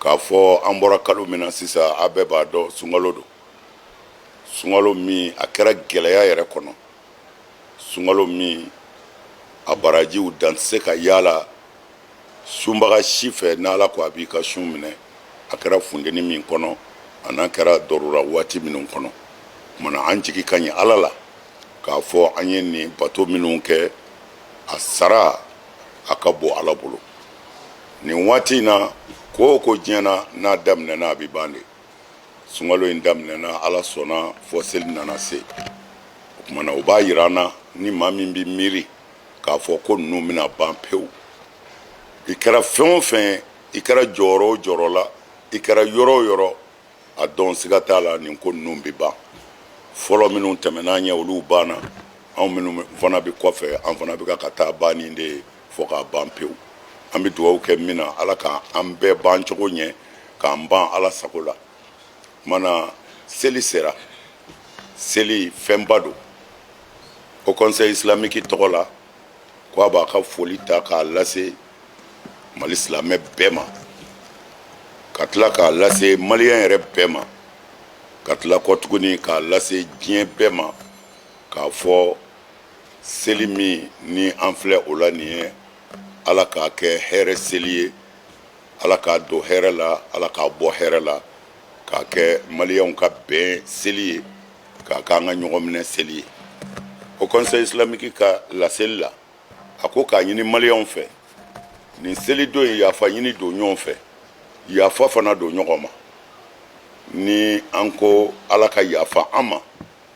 k'a fɔ an bɔra kalo min na sisan a bɛɛ b'a dɔn sunkalo don sunkalo min a kɛra gɛlɛya yɛrɛ kɔnɔ sunkalo min a barajiw dan tɛ se ka yaala sunbaga si fɛ n'ala ko a b'i ka sun minɛ a kɛra funteni min kɔnɔ a n'a kɛra dɔrura waati minnu kɔnɔ tumana an jigi ka ɲi ala la k'a fɔ an ye nin bato minnu kɛ a sara a ka bon ala bolo nin waati in na ko o ko diɲɛ na n'a daminɛna a bɛ ban de sunkalo in daminɛna ala sɔnna fo seli nana se o tumana o b'a yira an na ni maa min bɛ miiri k'a fɔ ko ninnu bɛna ban pewu i kɛra fɛn o fɛn i kɛra jɔyɔrɔ o jɔyɔrɔ la i kɛra yɔrɔ o yɔrɔ a dɔn siga t'a la nin ko ninnu bɛ ban fɔlɔ minnu tɛmɛn'an ɲɛ olu banna anw minnu fana bɛ kɔfɛ an fana bɛ ka taa banni de ye fo ka ban pewu an bɛ dugawu kɛ min na ala ka an bɛɛ ban cogo ɲɛ k'an ban ala sago la mana seli sera seli fɛnba don haut conseil islamique tɔgɔ la ko a b'a ka foli ta k'a lase mali silamɛ bɛɛ ma ka tila k'a lase maliyɛn yɛrɛ bɛɛ ma ka tila kɔ tuguni k'a lase diɲɛ bɛɛ ma k'a fɔ seli min ni an filɛ o la nin ye ala k'a kɛ hɛrɛ seli ye ala k'a don hɛrɛ la ala k'a bɔ hɛrɛ la k'a kɛ maliyanw ka bɛn seli ye k'a k'an ka ɲɔgɔn minɛ seli ye haut conseil islamique ka laseli la a ko k'a ɲini maliyanw fɛ nin seli don ye yafa ɲini don ɲɔgɔn fɛ yafa fana don ɲɔgɔn ma ni an ko ala ka yafa an ma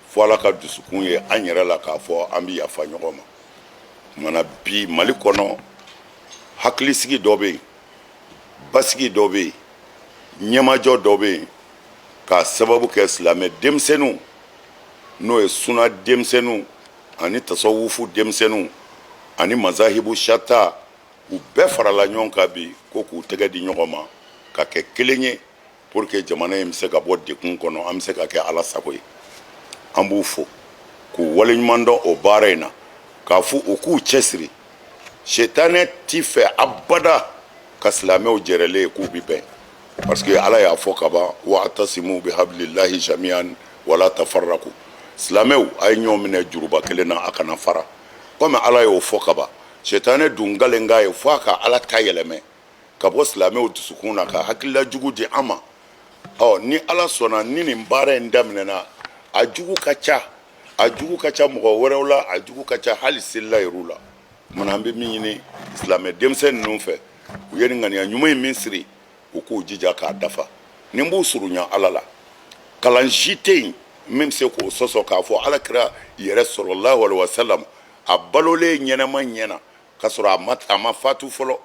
fo ala ka dusukun ye an yɛrɛ la k'a fɔ an bɛ yafa ɲɔgɔn ma mana bi mali kɔnɔ hakilisigi dɔ bɛ yen basigi dɔ bɛ yen ɲɛmajɔ dɔ bɛ yen k'a sababu kɛ silamɛ denmisɛnw n'o ye suna denmisɛnw ani tasawufu denmisɛnw ani mazahibu shata u bɛɛ farala ɲɔgɔn kan bi ko k'u tɛgɛ di ɲɔgɔn ma ka kɛ kelen ye pour que jamana in bɛ se ka bɔ dɛgun kɔnɔ an bɛ se ka kɛ ala sago ye an b'u fo k'u waleɲuman dɔn o baara in na k'a fɔ u k'u cɛsiri setanɛ ti fɛ abada ka silamɛw jɛrɛlen ye k'u bɛ bɛn parce que ala y'a fɔ kaban wa atasimu bi habilillahi jamian wala tafarraku silamɛw a ye ɲɔgɔn minɛ juruba kelen na a kana fara komi ala y'o fɔ kaban setanɛ dun kalenkan ye fo a ka ala ta yɛlɛmɛ ka bɔ silamɛw dusukun na ka hakilila jugu di an ma ɔ ni ala sɔnna ni nin baara in daminɛna a jugu ka ca a jugu ka ca mɔgɔ wɛrɛw la a jugu ka ca hali selila yɛrɛw la mana an bɛ min ɲini silamɛ denmisɛn ninnu fɛ u ye nin ŋaniya ɲuman in min siri u k'u jija k'a dafa nin b'u surunya ala la kalan si tɛ yen min bɛ se k'o sɔsɔ k'a fɔ ala kira yɛrɛ salalahu alayihi wasalam a balolen ɲɛnama ɲɛ na ka sɔrɔ a ma fatu fɔlɔ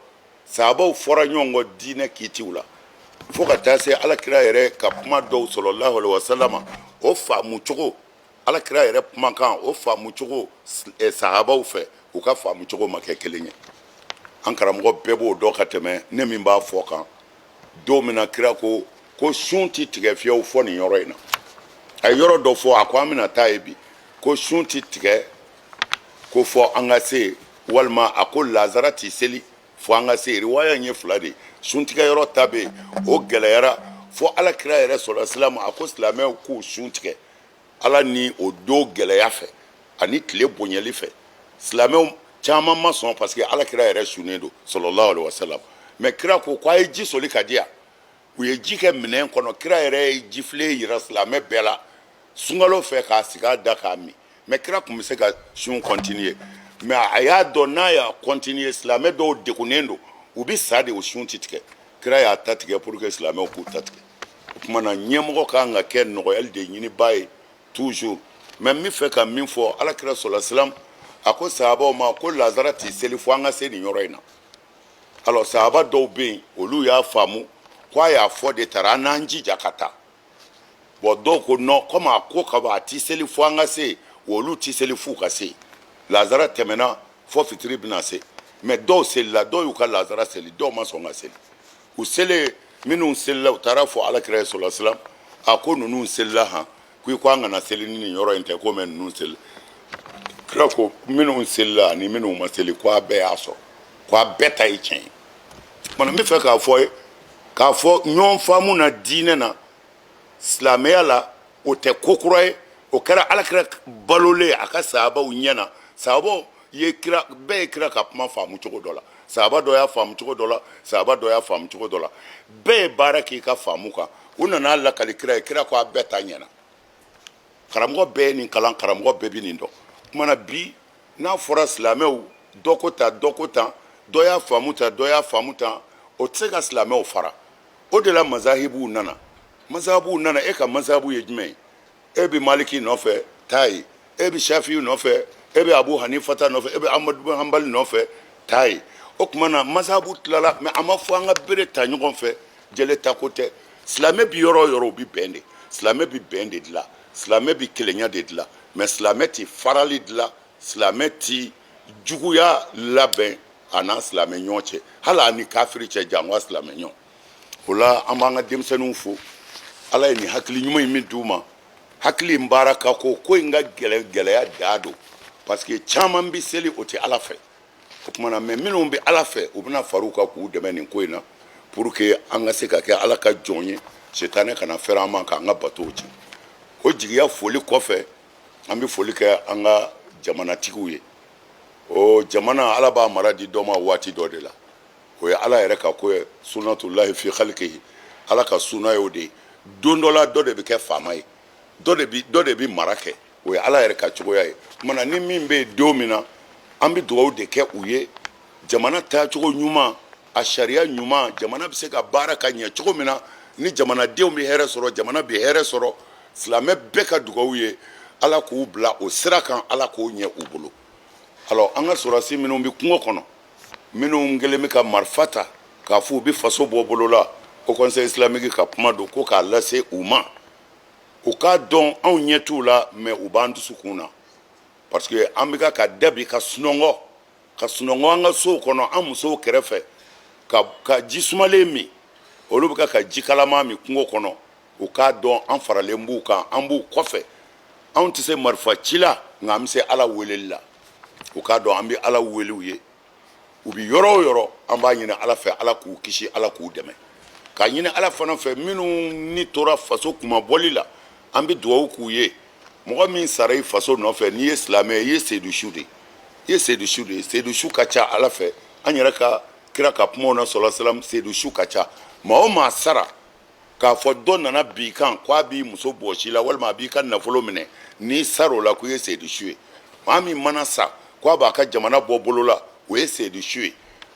sahabaw fɔra ɲɔgɔn kɔ diinɛ kiitiw la fo ka taa se alakira yɛrɛ ka kuma dɔw salalahu alayihi wasalama o faamu cogo alakira yɛrɛ kumakan o faamu cogo eh, sahabaw fɛ u ka faamu cogo ma kɛ kelen ye an karamɔgɔ bɛɛ b'o dɔn ka tɛmɛ ne min b'a fɔ kan don min na kira ko ko sun ti tigɛ fiyewu fo nin yɔrɔ in na a ye yɔrɔ dɔ fɔ a ko an bɛna taa yen bi ko sun ti tigɛ ko fo an ka se walima a ko lazara tɛ seli fo an ka se riwaya ye fila de suntigɛ yɔrɔ ta bɛ yen o gɛlɛyara fo ala kira yɛrɛ salalahu alayihi wasalam a ko silamɛw k'u sun tigɛ ala ni o don gɛlɛya fɛ ani tile bonyali fɛ silamɛw caman ma sɔn parce que ala kira yɛrɛ sunnen don salalahu alayihi wasalam mɛ kira ko k' a ye ji soli ka di yan u ye ji kɛ minɛn kɔnɔ kira yɛrɛ ye jifilen yira silamɛ bɛɛ la sunkalo fɛ k'a sigi a da k'a min mɛ kira tun bɛ se ka sun continuer mɛ a y'a dɔn n'a y'a continuer silamɛ dɔw degunnen don u bɛ sa de o sun ti tigɛ kira y'a ta tigɛ pour que silamɛw k'u ta tigɛ o tuma na ɲɛmɔgɔ kan ka kɛ nɔgɔyali de ɲiniba ye toujours mɛ n bɛ fɛ ka min fɔ alakira salalahu alayihi wasalam a ko sahabaw ma ko lazara tɛ seli fo an ka se nin yɔrɔ in na alors sahaba dɔw bɛ yen olu y'a faamu k'a y'a fɔ de taara an n'an jija ka taa bon dɔw ko non komi a ko ka ban a tɛ seli fo an ka se yen olu tɛ seli f'u ka se yen lazara tɛmɛna fo fitiri bɛna se mɛ dɔw selila dɔw y'u ka lazara seli dɔw ma sɔn ka seli u selen minnu selila u taara fɔ alakira ye salalahu alayihi wasalam a ko ninnu selila han ko i ko an kana seli ni nin yɔrɔ in tɛ ko mɛ ninnu selila kira ko minnu selila ani minnu ma seli ko a bɛɛ y'a sɔrɔ ko a bɛɛ ta ye tiɲɛ ye tuma na n bɛ fɛ k'a fɔ ye k'a fɔ ɲɔgɔn faamu na diinɛ na silamɛya la o tɛ ko kura ye o kɛra alakira balolen a ka sahabaw ɲɛ na sahabaw ye kira bɛɛ ye kira ka kuma faamu cogo dɔ la sahaba dɔ y'a faamu cogo dɔ la sahaba dɔ y'a faamu cogo dɔ la bɛɛ ye baara k'i ka faamu kan u nana a lakali kira ye kira ko a bɛɛ ta ɲɛna karamɔgɔ bɛɛ ye nin kalan karamɔgɔ bɛɛ bɛ nin dɔn tuma na bi n'a fɔra silamɛw dɔ ko tan dɔ ko tan dɔ y'a faamu tan dɔ y'a faamu tan o tɛ se ka silamɛw fara o de la mazahibuw nana mazahibuw nana e ka mazahibu ye jumɛn ye e bɛ maliki nɔfɛ taa ye e bɛ safiyu nɔfɛ e bɛ abu hanifa ta nɔfɛ e bɛ amadu bin hanbali nɔfɛ taa ye o tuma na mazabu tilala mɛ a ma fɔ an ka bere ta ɲɔgɔn fɛ jele ta ko tɛ silamɛ bɛ yɔrɔ o yɔrɔ u bɛ bɛn de silamɛ bɛ bɛn de dilan silamɛ bɛ kelenya de dilan mɛ silamɛ tɛ farali dilan silamɛ tɛ juguya labɛn a n'a silamɛ ɲɔgɔn cɛ hali a ni kafiri cɛ janwa silamɛ ɲɔgɔn o la an b'an ka denmisɛnninw fo ala ye nin hakili ɲuman in min di u ma hakili in baara ka ko ko in ka gɛlɛn gɛlɛya dan don parce que caman bɛ seli o tɛ ala fɛ o tuma na mɛ minnu bɛ ala fɛ u bɛna fara u kan k'u dɛmɛ nin ko in na pour que an ka se ka kɛ ala ka jɔn ye sitanɛ kana fɛrɛ an ma k'an ka batow tiɲɛ o jigiya foli kɔfɛ an bɛ foli kɛ an ka jamanatigiw ye o jamana ala b'a mara di dɔ ma waati dɔ de la o ye ala yɛrɛ ka ko ye sunatulahi fi halikihi ala ka suna ye o de ye don dɔ la dɔ de bɛ kɛ faama ye dɔ de bɛ mara kɛ o ye ala yɛrɛ ka cogoya ye o tuma na ni min bɛ yen don min na an bɛ dugawu de kɛ u ye jamana taacogo ɲuman a sariya ɲuman jamana bɛ se ka baara ka ɲɛ cogo min na ni jamanadenw bɛ hɛrɛ sɔrɔ jamana bɛ hɛrɛ sɔrɔ silamɛ bɛɛ ka dugawu ye ala k'u bila o sira kan ala k'o ɲɛ u bolo alors an ka sɔrasi minnu bɛ kungo kɔnɔ minnu kelen bɛ ka marifa ta k'a fɔ u bɛ faso bɔ bolola haut conseil islamique ka kuma don ko k'a lase u ma u k'a dɔn anw ɲɛ t'u la mɛ u b'an dusukun na parce que an bɛ ka ka da bi ka sunɔgɔ ka sunɔgɔ an ka sow kɔnɔ an musow kɛrɛfɛ ka ji sumalen min olu bɛ ka ka ji kalama min kungo kɔnɔ u k'a dɔn an faralen b'u kan an b'u kɔfɛ anw tɛ se marifa ci la nka an bɛ se ala weleli la u k'a dɔn an bɛ ala wele u ye u bɛ yɔrɔ o yɔrɔ an b'a ɲini ala fɛ ala k'u kisi ala k'u dɛmɛ k'a ɲini ala fana fɛ minnu ni tora faso kunmabɔli la an bɛ dugawu k'u ye mɔgɔ min sara i faso nɔfɛ n'i ye silamɛ ye i ye seyidusu de ye i ye seyidusu de ye seyidusu ka ca ala fɛ an yɛrɛ ka kira ka kumaw na salalahu alayihi wasalam seyidusu ka ca maa o maa sara k'a fɔ dɔ nana bin i kan k' a b'i muso bɔsi la walima a b'i ka nafolo minɛ n'i sara o la ko i ye seyidusu ye maa min mana sa k' a b'a ka jamana bɔ bolola o ye seyidusu ye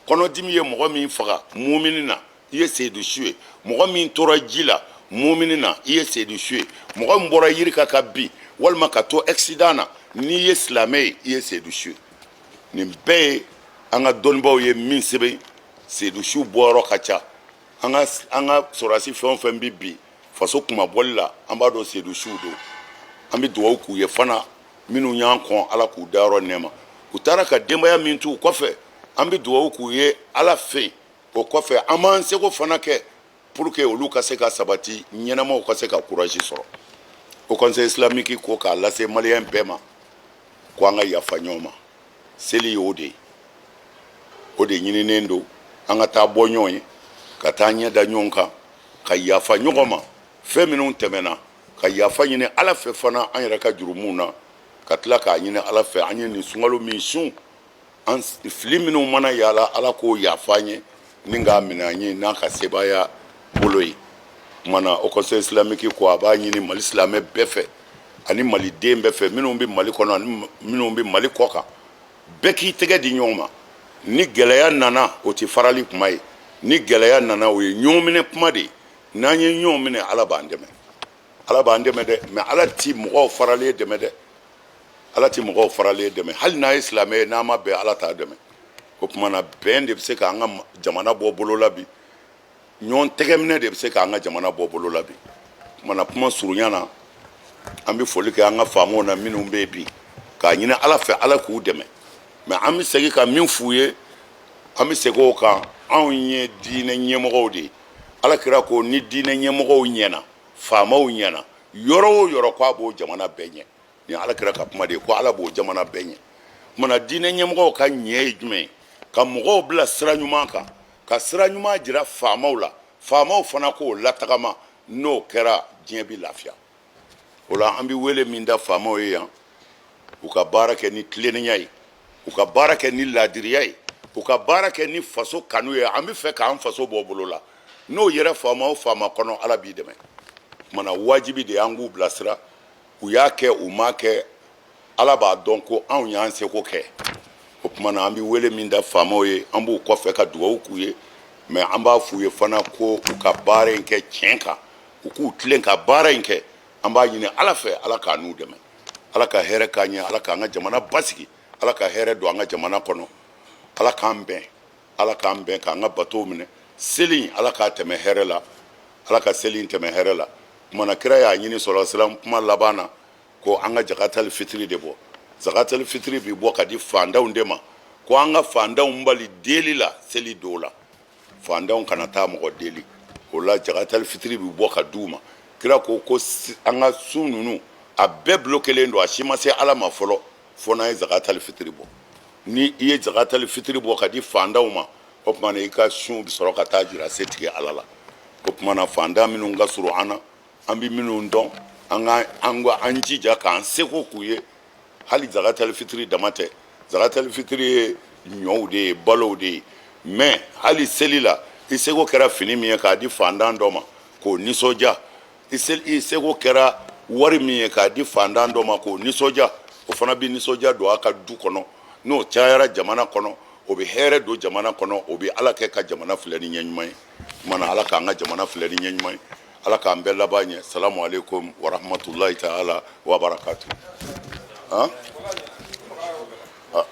kɔnɔdimi ye mɔgɔ min faga muumini na i ye seyidusu ye mɔgɔ min tora ji la muumini na i ye seyidusu ye mɔgɔ min bɔra yiri kan ka bin walima ka to accident na n'i ye silamɛ ye i ye seyidusu ye nin bɛɛ ye an ka dɔnnibaaw ye min sɛbɛn seyidusu bɔyɔrɔ ka ca an ka an ka sɔrɔdasi fɛn o fɛn bɛ bin faso kunmabɔli la an b'a dɔn sedu suw don an bɛ dugawu k'u ye fana minnu y'an kɔn ala k'u dayɔrɔ nɛɛma u taara ka denbaya min t'u kɔfɛ an bɛ dugawu k'u ye ala fɛ o kɔfɛ an b'an seko fana kɛ pour que olu ka se ka sabati ɲɛnamaw ka se ka courage sɔrɔ haut conseil islamique ko k'a lase maliyɛn bɛɛ ma ko an ka yafa ɲɔgɔn ma seli y'o de ye o de ɲininen don an ka taa bɔ ɲɔgɔn ye ka taa ɲɛ da ɲɔgɔn kan ka yafa ɲɔgɔn ma fɛn minnu tɛmɛna ka yafa ɲini ala fɛ fana an yɛrɛ ka jurumu na ka tila k'a ɲini ala fɛ an ye nin sunkalo min sun an fili minnu mana y'a la ala k'o yafa an ye Ni k'a minɛ an ye n'a ka sebaaya bolo ye kumana haut conseil islamique ko a b'a ɲini mali silamɛ bɛɛ fɛ ani mali den bɛɛ fɛ minnu bɛ mali kɔnɔ ani minnu bɛ mali kɔ kan bɛɛ k'i tɛgɛ di ɲɔgɔn ma ni gɛlɛya nana o tɛ farali kuma ye ni gɛlɛya nana o ye ɲɔn minɛ kuma de ye n'an ye ɲɔn minɛ ala b'an dɛmɛ ala b'an dɛmɛ dɛ mɛ ala tɛ mɔgɔ faralen dɛmɛ dɛ ala tɛ mɔgɔ faralen dɛmɛ hali n'a ye silamɛ ye n'a ma bɛn ala t'a dɛmɛ o kumana bɛn de bɛ se k'an ka jamana bɔ bolo la bi ɲɔgɔn tɛgɛminɛ de bɛ se k'an ka jamana bɔ bolo la bi kumana kuma surunya na an bɛ foli kɛ an ka faamaw na minnu bɛ bi k'a ɲini ala fɛ ala k'u dɛmɛ mɛ an bɛ segin ka min f'u ye an bɛ segin o kan anw ye diinɛ ɲɛmɔgɔw de ye ala kira ko ni diinɛ ɲɛmɔgɔw ɲɛna faamaw ɲɛna yɔrɔ o yɔrɔ k'a b'o jamana bɛɛ ɲɛ nin ala kira ka kuma de ye ko ala b'o jamana bɛɛ ɲɛ kumana diinɛ ɲɛmɔgɔw ka ɲɛ ye jumɛn ye ka mɔgɔw bila sira ɲuman kan ka sira ɲuman jira faamaw la faamaw fana k'o latagama n'o kɛra diɲɛ bi lafiya o la an bɛ wele min da faamaw ye yan u ka baara kɛ ni tilennenya ye u ka baara kɛ ni laadiriya ye u ka baara kɛ ni faso kanu ye an bɛ fɛ k'an faso bɔ bolo la n'o yera faama o faama kɔnɔ ala b'i dɛmɛ kumana wajibi de y'an k'u bilasira u y'a kɛ u m'a kɛ ala b'a dɔn ko anw y'an seko kɛ o kumana an bɛ wele min da faamaw ye an b'u kɔfɛ ka dugawu k'u ye mɛ an b'a f'u ye fana ko u ka baara in kɛ tiɲɛ kan u k'u tilen ka baara in kɛ an b'a ɲini ala fɛ ala k'an n'u dɛmɛ ala ka hɛrɛ k'an ye ala k'an ka jamana basigi ala ka hɛrɛ don an ka jamana kɔnɔ ala k'an bɛn ala k'an bɛn k'an ka bato minɛ seli ala k'a tɛmɛ hɛrɛ la ala ka seli in tɛmɛ hɛrɛ la kumana kira y'a ɲini sala salam kuma laban na ko an ka jakatali fitiri de bɔ jakatali fitiri bɛ bɔ ka di fantanw de ma ko an ka fantanw bali deli la seli don la fantanw kana taa mɔgɔ deli o la jakatali fitiri bɛ bɔ ka di u ma kira ko ko an ka sun ninnu a bɛɛ bloquélen don a si ma se ala ma fɔlɔ fo n'an ye zakatali fitiri bɔ ni i ye zakatali fitiri bɔ ka di fantanw ma o tuma na i ka sunw bɛ sɔrɔ ka taa jira setigi ala la o tuma na fantan minnu ka surun an na an bɛ minnu dɔn an ka an ka an jija k'an seko k'u ye hali zakatali fitiri dama tɛ zakatali fitiri ye ɲɔw de ye balow de ye mɛ hali seli la i seko kɛra fini min ye k'a di fantan dɔ ma k'o nisɔndiya i seko kɛra wari min ye k'a di fantan dɔ ma k'o nisɔndiya o fana bɛ nisɔndiya don a ka du kɔnɔ n'o cayara jamana kɔnɔ o bɛ hɛrɛ don jamana kɔnɔ o bɛ ala kɛ ka jamana filɛ ni ɲɛ ɲuman ye o tuma na ala k'an ka jamana filɛ ni ɲɛ ɲuman ye ala k'an bɛɛ laban ɲɛ salamu alekum waramatulayi taala wabarakatu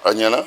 a ɲɛna